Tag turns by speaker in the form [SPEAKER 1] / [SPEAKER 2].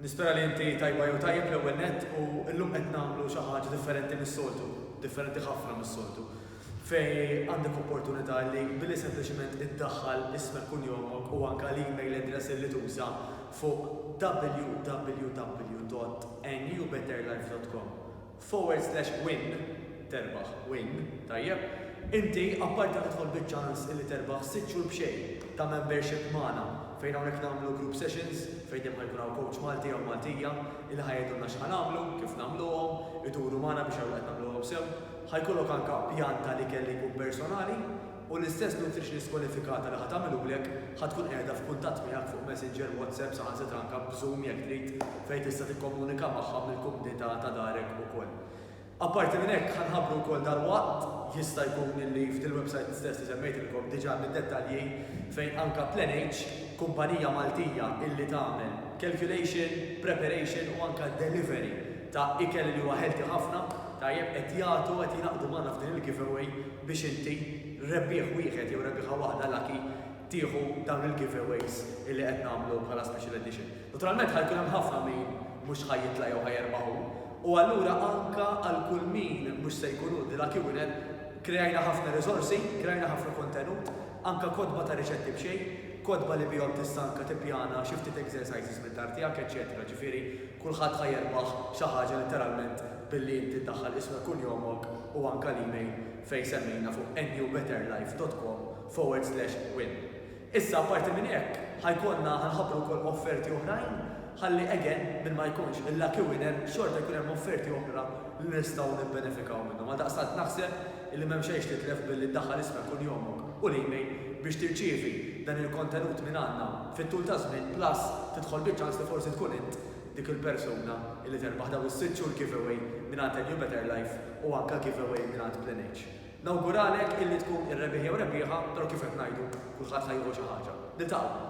[SPEAKER 1] Nispera li inti tajba jew tajjeb l-ewwel nett u llum qed nagħmlu xi ħaġa differenti mis-soltu, differenti ħafna mis-soltu, fejn għandek opportunità li billi sempliċement iddaħħal ismek kunjomok u anke l-email address illi tuża fuq www.newbetterlife.com Forward slash win Terbaħ Win Tajjeb Inti apparti li tidħol biċ-ċans illi terbaħ sitt xhur b'xejn ta' membership magħna fejn hawnhekk nagħmlu group sessions fejn dejjem ħa jkun hawn coach Malti jew Maltija illi ħa jgħidulna x'ħa nagħmlu, kif nagħmluhom, iduru magħna biex jaraw li qed nagħmluhom sew. Ħa jkollok anka pjan tal-ikel li jkun personali. U l-istess nutritionist kwalifikata li ħa tagħmilulek ħa tkun qiegħda f'kuntatt miegħek fuq Messenger, WhatsApp, saħansitra anke b'Zoom jekk trid, fejn tista' tikkomunika magħha mill-kumdità ta' darek ukoll. Apparti minn hekk, ħa nħabbru wkoll dalwaqt, jista' jkun li f'dil-website stess li semmejtilkom diġà għandna d-dettalji, fejn anke PlanH, kumpanija Maltija illi tagħmel calculation, preparation u anke delivery ta' ikel li huwa healthy ħafna, tajjeb, qed jagħtu, qed jingħaqdu magħna f'din il-giveaway biex inti, rebbieħ wieħed jew rebbieħa waħda lucky, tieħu dawn il-giveaways li qed nagħmlu bħala special edition. Naturalment ħa jkun hemm ħafna min mhux ħa jitla' jew ħa jerbaħ hu, u allura anke għal kull min mhux se jkun hu the lucky winner, kreajna ħafna riżorsi, kreajna ħafna kontenut, anke kotba ta' riċetti b'xejn, kotba li bihom tista' anke tippjana xi ftit exercises mid-dar tiegħek, eċċetera, ġifieri, Kulħadd ħa jerbaħ xi ħaġa letteralment billi inti ddaħħal ismek kunjomok u anka l-email fejn semmejna fuq newbetterlife dot com forward slash win. Issa apparti minn hekk ħa jkollna ħa nħabbru wkoll offerti oħrajn ħalli again min ma jkunx il-lucky winner xorta jkun hemm offerti oħra li nistgħu nibbenefikaw minnhom għaldaqstant naħseb illi m'hemm xejn x'titlef billi ddaħħal ismek u njomok u l-email biex tirċievi dan il-kontenut minn għandna fit-tul taż-żmien plus tidħol biċ-ċans li forsi tkun int dik il-persuna illi terbaħ dawn is-sitt xhur giveaway mingħand A New Better Life u anke giveaway mingħand PlanH. Nawguralek illi tkun ir-rebbieħ jew rebbieħa, però kif qed ngħidu, kulħadd ħa jieħu xi ħaġa. Niltaqgħu!